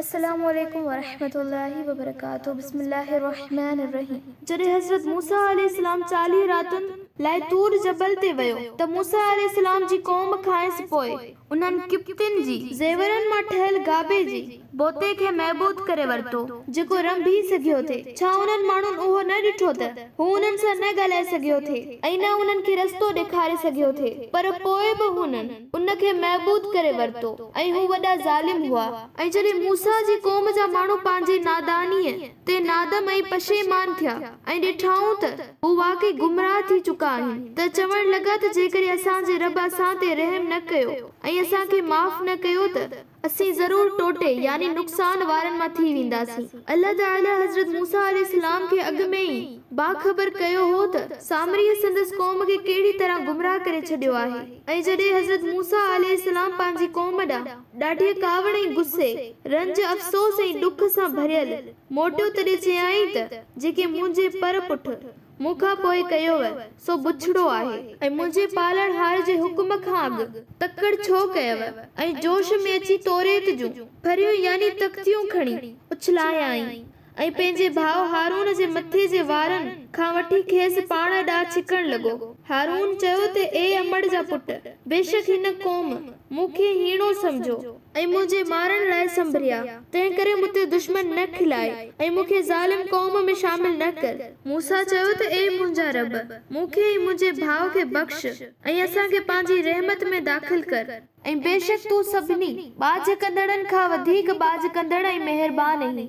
السلام عليڪم ورحمة الله وبرڪاته بسم الله الرحمٰن الرحيم جڏهن حضرت موسيٰ عليه السلام چاليهه راتن لاء طور جبل تي ويو ته موسيٰ عليه السلام جي قوم کانئس پوء انهن قبطين جي زيورن مان ٺهيل گابي جي بوتي کي محبوط ڪري ورتو. جيڪو رنڀي سگهيو ٿي. ڇا انهن ماڻهن اهو نه ڏٺو ته هو انهن سان نه ڳالهائي سگهيو ٿي ۽ نه انهن کي رستو ڏيکاري سگهيو ٿي، پر پوء به هنن ان کي محبوط ڪري ورتو ۽ هو وڏا ظالم هئا. ۽ جڏهن موسيٰ جي قوم جا ماڻهو پنهنجي نادانيء تي نادم ۽ پشيمان ٿيا ۽ ڏٺائون ته هو واقعي گمراهه ٿي چڪا آهن ته چوڻ لڳا ته جيڪڏهن اسان جي رب اسان تي رحم نه ڪيو ۽ اسان کي معاف نه ڪيو ته اسين ضرور ٽوٽي، يعني نقصان وارن مان ٿي وينداسين. الله تعاليٰ حضرت موسيٰ عليه السلام کي اڳ ۾ ئي باخبر ڪيو هو ته سامريء سندس قوم کي ڪهڙي طرح گمراهه ڪري ڇڏيو آهي ۽ جڏهن حضرت موسيٰ عليه السلام پنهنجي قوم ڏانهن ڏاڍيء ڪاوڙ ۽ غصي، رنج، افسوس ۽ ڏک سان ڀريل موٽيو تڏهن چيائين ته جيڪي منهنجي پر پٺ. مون کان پوء ڪيوء سو بڇڙو آهي. ۽ منهنجي پالڻهار جي حڪم کان اڳ تڪڙ ڇو ڪيوء؟ ۽ جوش ۾ اچي توريت جون ڦريون يعني تختيون کڻي اڇلايائين، ۽ پنهنجي ڀاء هارون جي مٿي جي وارن کان وٺي کيس پاڻ ڏانهن ڇڪڻ لڳو. هارون چيو ته اي امڙ جا پٽ! بيشڪ هن قوم مون کي هيڻو سمجهيو. ۽ منهنجي مارڻ لاء سنڀريا، تنهنڪري مون تي دشمن نه کلائي، ۽ مون کي ظالم قوم ۾ شامل نه ڪر. موسيٰ چيو ته اي منهنجا رب! مون کي ۽ منهنجي ڀاء کي بخش، ۽ اسان کي پنهنجي رحمت ۾ داخل ڪر. ۽ بيشڪ تون سڀني، ٻاجهه ڪندڙن، کان وڌيڪ ٻاجهه ڪندڙ ۽ مهربان اهين.